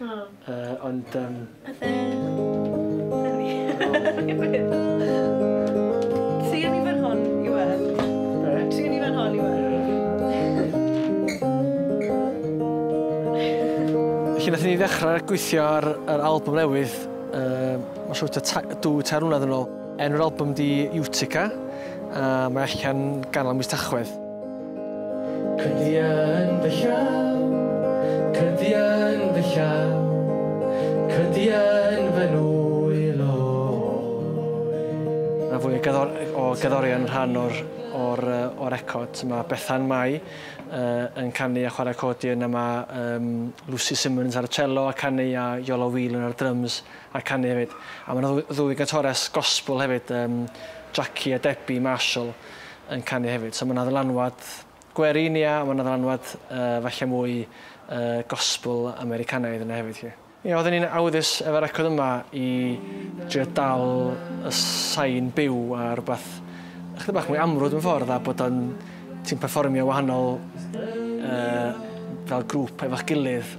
O. Yy ond yym... Pethe... Tria ni fan hon i weld. Be? Tria ni fan hon i weld. Felly nathon ni ddechra gweithio ar yr albwm newydd yy ma' siŵr tua ta- dwy tair mlynadd yn ôl. Enw'r albwm 'di Utica a mae allan ganol mis Tachwedd. Cynti yn fy llaw, cynti yn fy llaw, cynti yn fy nwyl o Mae fwy o gerddorion yn rhan o'r record. Mae Bethan Mai yn canu a chwarae accordion a mae Lucy Simmons ar y cello a canu a Iolo Whelan ar drums a canu hefyd. A mae yna ddwy gantores gospel hefyd, Jackie a Debbie Marshall. yn canu hefyd. So mae yna ddylanwad gwerin, ia, a mae yna ddylanwad uh, falle mwy uh, gospel Americanaidd yna hefyd. Ia. Ia, oedden ni'n awyddus efo'r record yma i drio dal y sain byw a rhywbeth ychydig bach mwy amrwd yn ffordd a bod o'n ti'n performio wahanol uh, fel grŵp efo'ch gilydd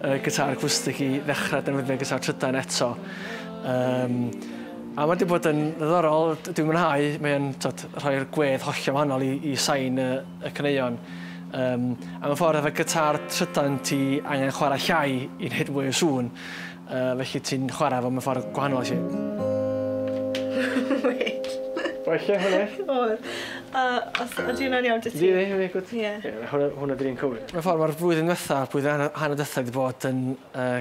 y gitar acwstig i ddechrau defnyddio gitar trydan eto. Um, a mae wedi bod yn ddiddorol, dwi'n mwynhau, mae'n rhoi'r gwedd hollio wahanol i, i sain y, y cyneuon. Um, a mewn ffordd, efo gitar trydan ti angen chwarae llai i wneud mwy o sŵn, uh, felly ti'n chwarae fo mewn ffordd gwahanol i Wait. O'r lle hwnna? O'r. A os ydy hwnna'n iawn dy ti? Ie, ie, gwyd. Ie. Hwnna dyn ni'n cywir. Mewn ffordd, mae'r flwyddyn ddiwetha', blwyddyn a hanner diwetha' wedi bod yn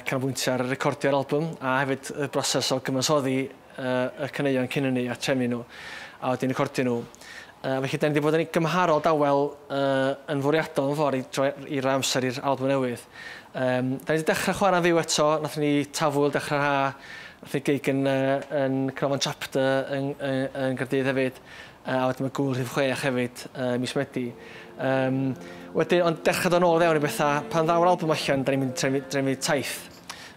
canolbwyntio ar recordio'r albwm a hefyd y broses o gyfansoddi y caneuon cyn hynny a trefnu nhw a wedyn recordio nhw. Felly, da ni wedi bod yn gymharol dawel yn fwriadol mewn ffordd i droi i roi amser i'r albwm newydd. Da ni wedi dechrau chwarae'n fyw eto, nathon ni Tafwyl dechrau'r haf, nathon ni gig yn Canolfan Chapter yn Gaerdydd hefyd, A wedyn mae gŵyl rhif chwech hefyd ym mis Medi. Yym, wedyn, ond dechrau dod nôl fewn i bethau, pan ddaw'r album allan, da ni'n mynd trefnu, trefnu taith.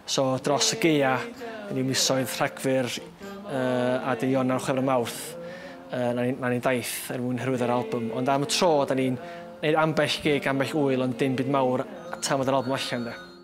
So, dros y geia, yn yw misoedd Rhagfyr uh, a dy Ionawr, Chwefror, Mawrth, uh, na ni'n ni daith er mwyn hyrwyddo'r album. Ond am y tro, da ni'n neud ambell gig, ambell wyl, ond dim byd mawr tan fod yr album allan, de.